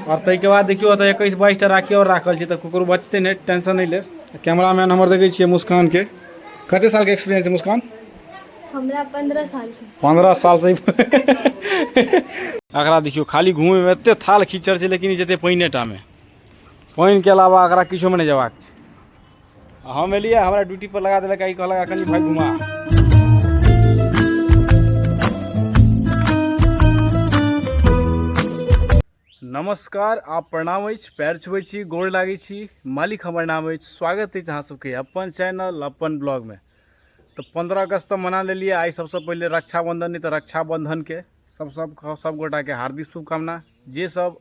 आओर ताहिके बाद देखियौ एतऽ एकैस बाइसटा राखी आओर राखल छै तऽ ककरो बचतै नहि टेंशन नहि लेब कैमरा मैन हमर देखै छियै मुस्कानके कते सालके एक्सपीरियंस छै मुस्कान हमरा पंद्रह साल से पंद्रह साल से एकरा देखियौ खाली घूमैमे एते थाल खीचड़ छै लेकिन ई जेतै पानिएटामे पानिके अलावा एकरा किछोमे नहि जेबाक छै हम एलियै हमरा ड्यूटी पर लगा देलक ई कहलक कनि भाई घुमा नमस्कार आप प्रणाम अछि पैर छुबै छी गोर लागै छी मालिक हमर नाम अछि स्वागत अछि अहाँ सबके अपन चैनल अपन ब्लॉगमे तऽ पन्द्रह अगस्त तऽ मना लेलियै आइ सबसँ पहिले रक्षाबंधन नहि तऽ रक्षाबंधनके सब सब सब गोटाके हार्दिक शुभकामना जे सब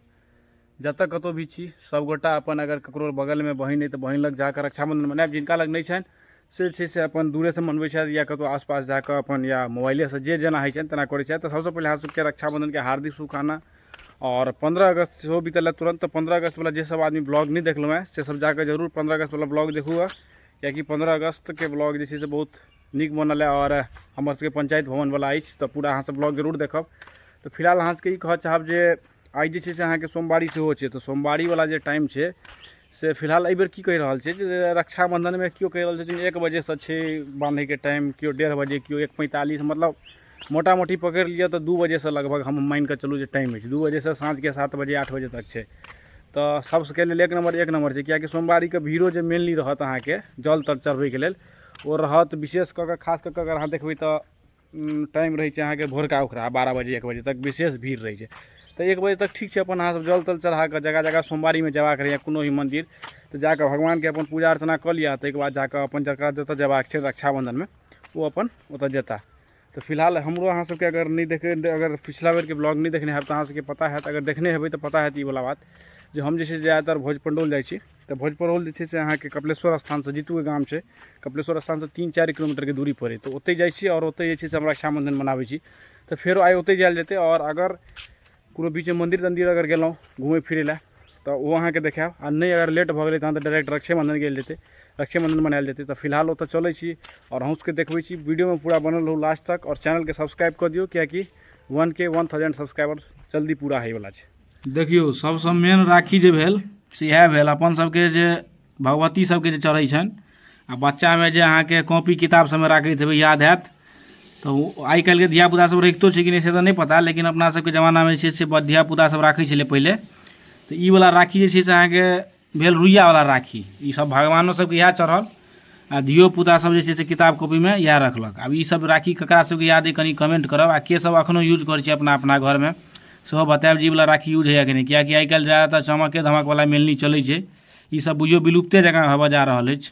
जतऽ कतौ भी छी सब गोटा अपन अगर ककरो बगल में बहिन है तऽ बहिन लग जाकऽ रक्षाबंधन मनायब जिनका लग नहि छनि से छै से अपन दूरे से मनबै छथि या कतौ आसपास जाकऽ अपन या मोबाइले से जे जेना होइ छनि तेना करै छथि तऽ सबसँ पहिले अहाँ सबके रक्षाबंधन के हार्दिक शुभकामना और पंद्रह अगस्त सेहो बीतल तुरंत तऽ पंद्रह अगस्त वाला जे सब आदमी ब्लॉग नहि देखलहुँ हैं से सब जाकऽ जरूर पंद्रह अगस्त वाला ब्लॉग देखू गा कियाकि पंद्रह अगस्त के ब्लॉग जे छै से बहुत नीक बनल है और हमर सबके पंचायत भवन वाला अछि तऽ पूरा अहाँ सब ब्लॉग जरूर देखब तऽ फिलहाल अहाँ सबके ई कहऽ चाहब जे आइ जे छै से अहाँके सोमवारी सेहो छै तऽ सोमवारीवला जे टाइम छै से फिलहाल एहिबेर की कहि रहल छै जे रक्षाबन्धनमे केओ कहि रहल छथिन एक बजेसँ छै बान्हैके टाइम केओ डेढ़ बजे केओ एक पैँतालिस मतलब मोटा मोटी पकड़ि लिअऽ तऽ दुइ बजेसँ लगभग हम मानिके चलू जे टाइम अछि दुइ बजेसँ साँझके सात बजे आठ बजे तक छै तऽ सबके लेल एक नम्बर एक नम्बर छै किएकि सोमवारीके भीड़ो जे मेनली रहत अहाँके जल तल चढ़बैके लेल ओ रहत विशेष कऽ कऽ खास कऽ कऽ अगर अहाँ देखबै तऽ टाइम रहै छै अहाँके भोरका उखरा बारह बजे एक बजे तक विशेष भीड़ रहै छै तऽ एक बजे तक ठीक छै अपन अहाँसभ जल तल चढ़ा कऽ जगह जगह सोमवारीमे जयबाक रहैए कोनो भी मन्दिर तऽ जा कऽ भगवानके अपन पूजा अर्चना कऽ लिअ ताहिके बाद जा कऽ अपन जकरा जतय जयबाक छै रक्षाबन्धनमे ओ अपन ओतय जेता तऽ फिलहाल हमरो अहाँ सभके अगर नहि देखे अगर पिछला बेरके ब्लॉग नहि देखने हैब तऽ अहाँ सभके पता हैत अगर देखने हेबै तऽ पता हैत ई वाला बात जे हम जे छै से ज्यादातर भोज पण्डौल जाइ छी तऽ भोजपरौल जे छै से अहाँके कपिलेश्वर स्थानसँ जीतूके गाम छै कपिलेश्वर स्थानसँ तीन चारि किलोमीटरके दूरी पड़ै तऽ ओतहि जाइ छी आओर ओतहि जे छै से हम रक्षाबन्धन मनाबै छी तऽ फेरो आइ ओतहि जायल जेतै आओर अगर कोनो बीचमे मन्दिर तन्दिर अगर गेलहुँ घुमै फिरै लए तऽ ओ अहाँके देखायब आ नहि अगर लेट भऽ गेलै तहन तऽ डायरेक्ट रक्षाबन्धन गेल जेतै रक्षाबन्धन मनायल जेतै तऽ फिलहाल ओतऽ चलै छी आओर अहूँ सबके देखबै छी वीडियोमे पूरा बनल रहू लास्ट तक आओर चैनलके सब्सक्राइब कऽ दियौ किएकि वन के वन थाउजेंड सब्सक्राइबर जल्दी पूरा होइवला छै देखियौ सभसँ मेन राखी जे भेल से इएह भेल अपन सभके जे भगवती सभके जे चढ़ै छनि आ बच्चामे जे अहाँके कॉपी किताब सभमे राखैत हेबै याद हैत तऽ ओ आइ काल्हिके धिया पुता सभ रखितो छै कि नहि से तऽ नहि पता लेकिन अपना सभके जमानामे जे छै से धिया पुता सभ राखै छलै पहिले तऽ ई बला राखी जे छै से अहाँके भेल रुइयावला राखी ईसभ भगवानो सभके इएह चढ़ल आ धियो पुता सब जे छै से किताब कॉपीमे इएह रखलक आब ई सब राखी ककरा सबके याद अइ कनि कमेंट करब आ के सब अखनो यूज करै छै अपना अपना घरमे सेहो बतायब जी वाला राखी यूज होइए कि नहि किएकि आइ काल्हि ज्यादातर चमके धमकवला मेनली चलै छै ई सब बुझियौ विलुप्ते जकाँ होबऽ जा रहल अछि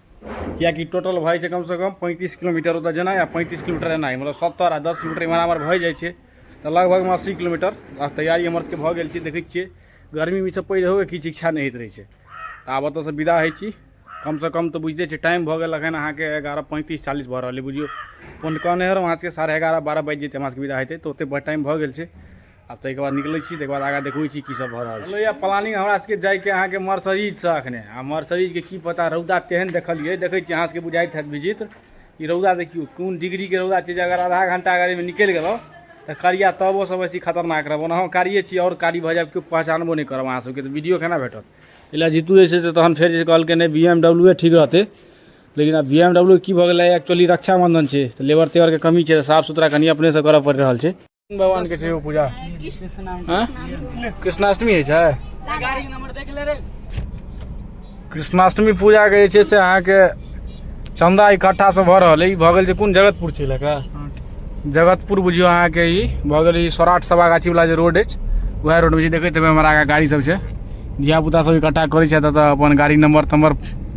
किएकि टोटल भऽ जाइ छै कमसँ कम पैंतीस किलोमीटर ओतय जेनाइ आ पैंतीस किलोमीटर एनाइ मतलब सत्तरि आ दस किलोमीटर एम्हर आम्हर भए जाइ छै तऽ लगभगमे अस्सी किलोमीटर आ तैयारी हमर सभके भऽ गेल छै देखै छियै गर्मीमे ईसभ पड़ि रहैके किछु इच्छा नहि होइत रहै छै तऽ आब ओतयसँ विदा होइ छी कमसँ कम तऽ बुझिते छियै टाइम भऽ गेल एखन अहाँके एगारह पैंतीस चालीस भऽ रहल अइ बुझियौ फोन कहने रहौँ अहाँ सभके साढ़े एगारह बारह बाजि जेतै हमरा सभके विदा होइते तऽ ओतेक टाइम भऽ गेल छै आब ताहिके बाद निकलै छी ताहिके बाद आगाँ देखबै छी की सब भऽ रहल छै प्लानिंग हमरा सबके जाइके अहाँके मर्सरीजसँ अखने आ मर्सरीजके की पता रौदा तेहन देखलियै देखै छी अहाँ सबके बुझाइत हैत विजित ई रौदा देखियौ कोन डिग्रीके रौदा छै जे अगर आधा घंटा अगर एहिमे निकलि गेलहुँ तऽ करिया तबो सब बेसी खतरनाक रहब ओना हम कारिये छी आओर कारी भऽ जायब केओ पहचानबो नहि करब अहाँ सबके तऽ वीडियो केना भेटत एहि लए जीतू जे छै से तहन फेर जे कहलकै नहि बी एम डब्ल्यू ठीक रहतै लेकिन आब बी एम डब्ल्यू की भऽ गेलै एक्चुअली रक्षाबंधन छै तऽ लेबर तेबरके कमी छै तऽ साफ सुथरा कनि अपनेसँ करऽ पड़ि रहल छै भगवान के छै पूजा कृष्णाष्टमी होइ छै कृष्णाष्टमी पूजा के जे छै से अहाँके चंदा इकट्ठा से भऽ रहल अइ भऽ गेल छै कोन जगतपुर छै लए जगतपुर बुझियो अहाँके ई भऽ गेल ई सौराठ सभा गाछी वाला जे रोड अछि वएह रोड मे छै देखैत हेबै हमरा आगा गाड़ी सब छै धियापुता सब इकट्ठा करै छथि एतऽ अपन गाड़ी नंबर तम्बर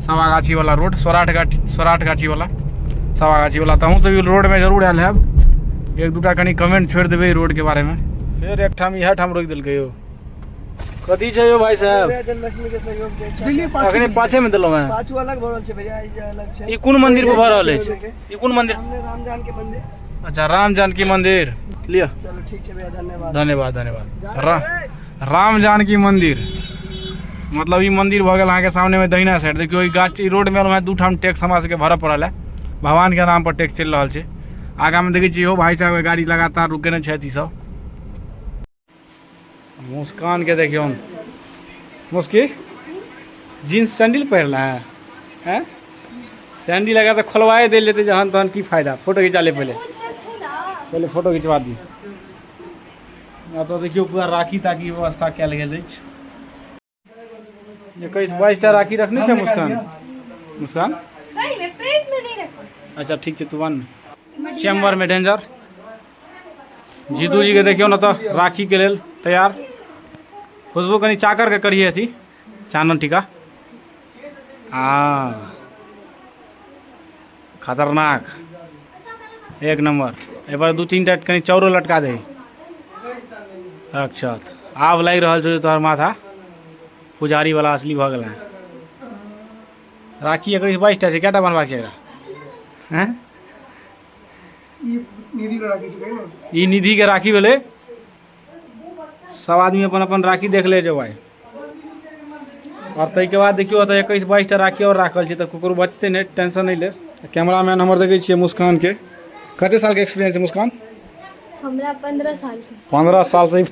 सवागाछी वाला रोड सौराठ गाछी सौराठ गाछी वाला सवागाछी वाला तो हूँ सब रोड में जरूर आयल है एक दूटा कनी कमेंट छोड़ देवे रोड के बारे में फिर एक ठाम यह ठाम रोक दिल यो कथी छै यो भाई साहब जन्माष्टमी के सहयोग दै छै दिल्ली पाछू अखने पाछे में देलहुँ हैं पाछू अलग भरल छै भैया ई जे अलग छै ई कोन मंदिर पर भऽ रहल अछि ई कोन मंदिर सामने रामजान के मंदिर अच्छा राम जानकी मंदिर लिअ चलो ठीक छै भैया धन्यवाद धन्यवाद धन्यवाद रा राम जानकी मंदिर मतलब ई मंदिर भऽ गेल अहाँके सामनेमे दहिना साइड देखियौ ई गाछ ई रोडमे हमरा दू ठाम टैक्स हमरा सबके भरऽ पड़ल है भगवानके नाम पर टैक्स चलि रहल छै आगामे देखै छियै इहो भाई साहब गाड़ी लगातार रुकेने छथि ई सब मुस्कानके देखियौ मुस्की जीन्स सैंडल पहिरला है हैं सैंडल लगा तऽ खोलवाए देल जेतै जहन तहन की फायदा फोटो घिचा ले पहिले पहिले फोटो घिचवा दी एतऽ देखियौ पूरा राखी ताखी व्यवस्था कयल गेल अछि एकैस बाईस टा राखी रखने छै मुस्कान मुस्कान सही में प्लेट में नहीं रखो अच्छा ठीक छै तू बन चैम्बर में डेंजर जीतू जी के देखियौ ने तऽ राखी के लेल तैयार खुशबू कनि चाकर के करिए अथी चानन टीका हाँ खतरनाक एक नंबर एहि पर दू तीन टा कनि चाउरो लटका दही अच्छा आब लागि रहल छौ जे तोहर माथा पुजारी वाला असली भऽ गेल हेँ राखी एकैस बाइस टा छै कए टा बनबाक छै एकरा हैं ई निधि के राखी छै ने ई निधि के राखी भेलै सब आदमी अपन अपन राखी देख ले जेबै आओर ताहिके बाद देखियौ एतऽ एकैस बाइसटा राखी आओर राखल छै तऽ ककरो बचतै नहि टेंशन नहि ले कैमरा मैन हमर देखै छियै मुस्कानके कते सालके एक्सपीरियंस छै मुस्कान हमरा पंद्रह साल से पंद्रह सालसँ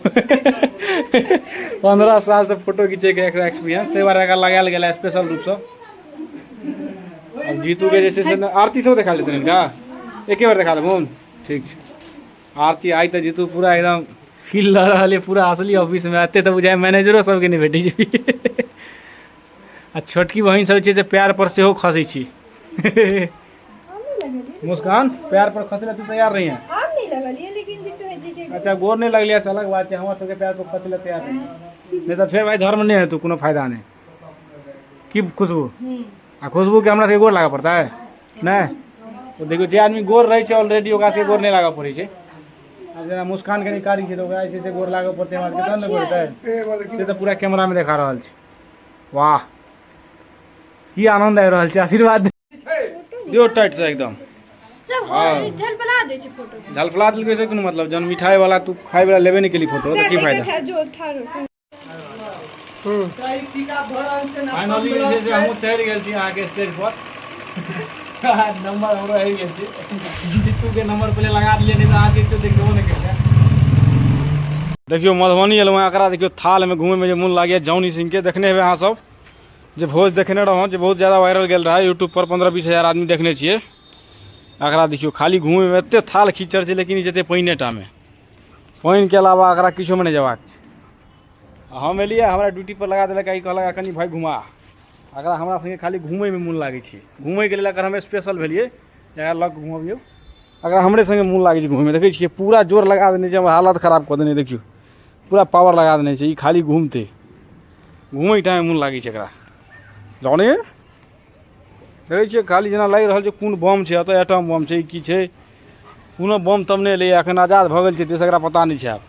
पंद्रह सालसँ फोटो घिचैके एकरा एक्सपीरियंस ताहि दुआरे एकरा लगायल गेल स्पेशल रूपसँ अब जीतूके जे छै से आरती सेहो देखा लेतै हिनका एके बेर देखा देबहुन ठीक छै आरती आइ तऽ जीतू पूरा एकदम फील लऽ रहल यऽ पूरा असली ऑफिस मे एते तऽ बुझाइ मैनेजरो सबके नहि भेटै छै आ छोटकी बहिन सब छै से पैर पर सेहो खसै छी मुस्कान पैर पर खसै तू तैयार रही है हम नहीं लगलिए लेकिन भी तो है जी के अच्छा गोर नहि लगलियै से अलग बात छै हमर सबके पैर पर खसै लए तैयार रही नहि तऽ फेर भाइ धर्म नहि हेतौ कोनो फायदा नहि की खुशबू आ खुशबू के हमरा सबके गोर लागऽ पड़ता है नहि तो देखियो जे आदमी गोर रहै छै ऑलरेडी ओकरा सबके गोर नहि लागऽ पड़ै छै आब जेना मुस्कान कनि कारी छै तऽ ओकरा जे छै से गोर लागऽ पड़तै हमरा सबके तहन ने गोर हेतै से तऽ पूरा कैमरा में देखा रहल छै वाह की आनंद आबि रहल छै आशीर्वाद दियो टाइट से एकदम सब हाँ। हो झलपला दै छै फोटो झलफला देलकै से कोनो मतलब जहन मिठाई वाला तू खाय वाला लेबे नहि केली फोटो तऽ की फायदा जो ठाढ़ हो छै हम्म। फाइनली जे छै से हमहूँ चढ़ि गेल छी अहाँके स्टेज पर नंबर हमरो आबि गेल छै जीतूके नंबर पहिले लगा दिए नहि तऽ अहाँके केओ देखबो नहि करतै देखियौ मधुबनी एलहुँ हेँ एकरा देखियौ थालमे घूमयमे जे मोन लागैए जौनी सिंहके देखने हेबै अहाँ सब जे भोज देखने रहौं जे बहुत ज़्यादा वायरल गेल रहा यूट्यूब पर पंद्रह बीस हजार आदमी देखने छियै एकरा देखियौ खाली घूमयमे एतेक थाल खीचड़ छै लेकिन ई जेतै पानिएटामे पानिके अलावा एकरा किछोमे नहि जयबाक छै हम एलियै हमरा ड्यूटीपर लगा देलक ई कहलक कनि भाय घुमा एकरा हमरा सङ्गे खाली घूमयमे मोन लागै छै घूमयके लेल अगर हम स्पेशल भेलियै एकरा लऽ कऽ घुमबियौ अगर हमरे सङ्गे मोन लागै छै घूमयमे देखै छियै पूरा जोर लगा देने छै हमर हालत खराब कऽ देने देखियौ पूरा पावर लगा देने छै ई खाली घूमतै घूमयके टाइम मोन लागै छै एकरा जाने देखै छियै खाली जेना लागि रहल छै कोन बम छै एतऽ एटम बम छै की छै कोनो बम तम नहि एलैए एखन आजाद भऽ गेल छै ताहिसँ एकरा पता नहि छै आब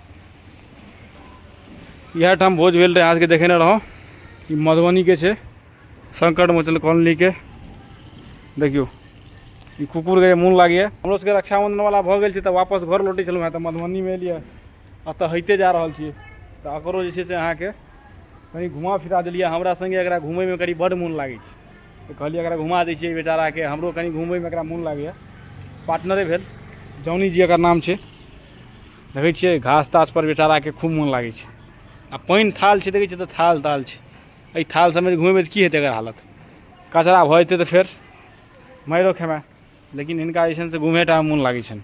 इएह ठाम भोज भेल रहै अहाँके देखेने रहौँ ई मधुबनीके छै संकट मोचन कॉलोनीके देखियौ ई कुकुरके जे मोन लागैए हमरो सबके रक्षाबंधन वाला भऽ गेल छै तऽ वापस घर लौटै छलहुँ हेँ तऽ मधुबनीमे एलियै एतऽ होइते जा रहल छियै तऽ एकरो जे छै से अहाँके कनि घुमा फिरा देलियै हमरा सङ्गे एकरा घुमैमे कनि बड्ड मोन लागै छै तऽ कहलियै एकरा घुमा दै छियै बेचाराके हमरो कनि घुमैमे एकरा मोन लागैए पार्टनरे भेल जौनी जी एकर नाम छै देखै छियै घास तासपर बेचाराके खूब मोन लागै छै आ पानि थाल छै देखै छियै तऽ थाल ताल छै एहि थाल सभमे घुमेबै तऽ की हेतै एकर हालत कचरा भऽ जेतै तऽ फेर मारिओ खेमे लेकिन हिनका जे छनि से घुमेटा मोन लागै छनि